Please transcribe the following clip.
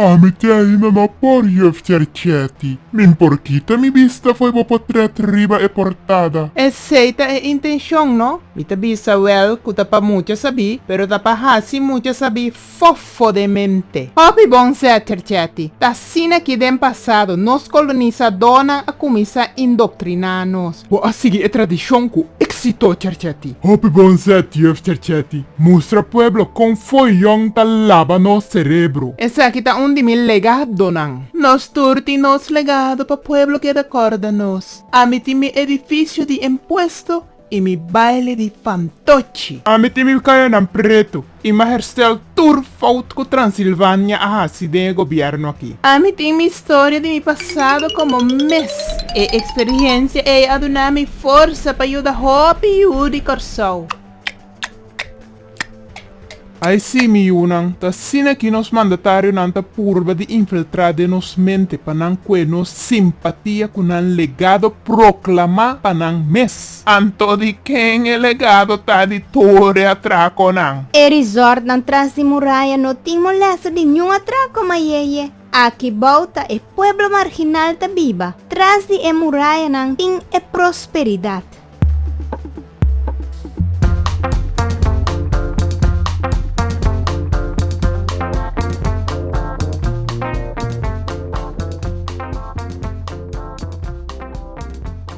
Ami tin ainda no por juf Cercetti. Min por kita mi bista fo'i bo potret riba e portada. Esey ta e intencion no. Mi ta bisa wel cu ta pa mucha sabi, pero ta pa haci mucha sabi fofo den mente. Hopi bon zet Cercetti. Ta asina aki den pasado, nos colonisadornan a cuminsa indoctrina nos. Bo a sigui e tradishon ku éksito, Cherchetti! Hopi bon zet, Juf Cherchetti! Mustra pueblo kon fo'i Yòn ta laba nos serebro! Esaki ta un di mi legadonan. Nos tur tin nos legado pa pueblo keda kòrda nos. Ami tin mi edifisio di impuesto i mi baile di fantochi. Ami tin mi kayanan pretu. I ma herstel tur fout ku Transilvania a hasi den e gobièrnu aki. Ami tin mi storia di mi pasado komo mes. E eksperiensia ei a duna mi forsa pa yuda hopi yu di Kòrsou. Ai si, mi yunan, ta asina ki nos mandatarionan ta purba di infiltrá den nos mente pa nan kue nos simpatia ku nan legado proklamá pa nan mes. Anto di ken e legado ta di toere atraconan? E resortnan tras di muraya no tin molesta di niun atraco mayeye. Aki bou ta e pueblo marginal ta biba. Tras di e murayanan tin e prosperidad.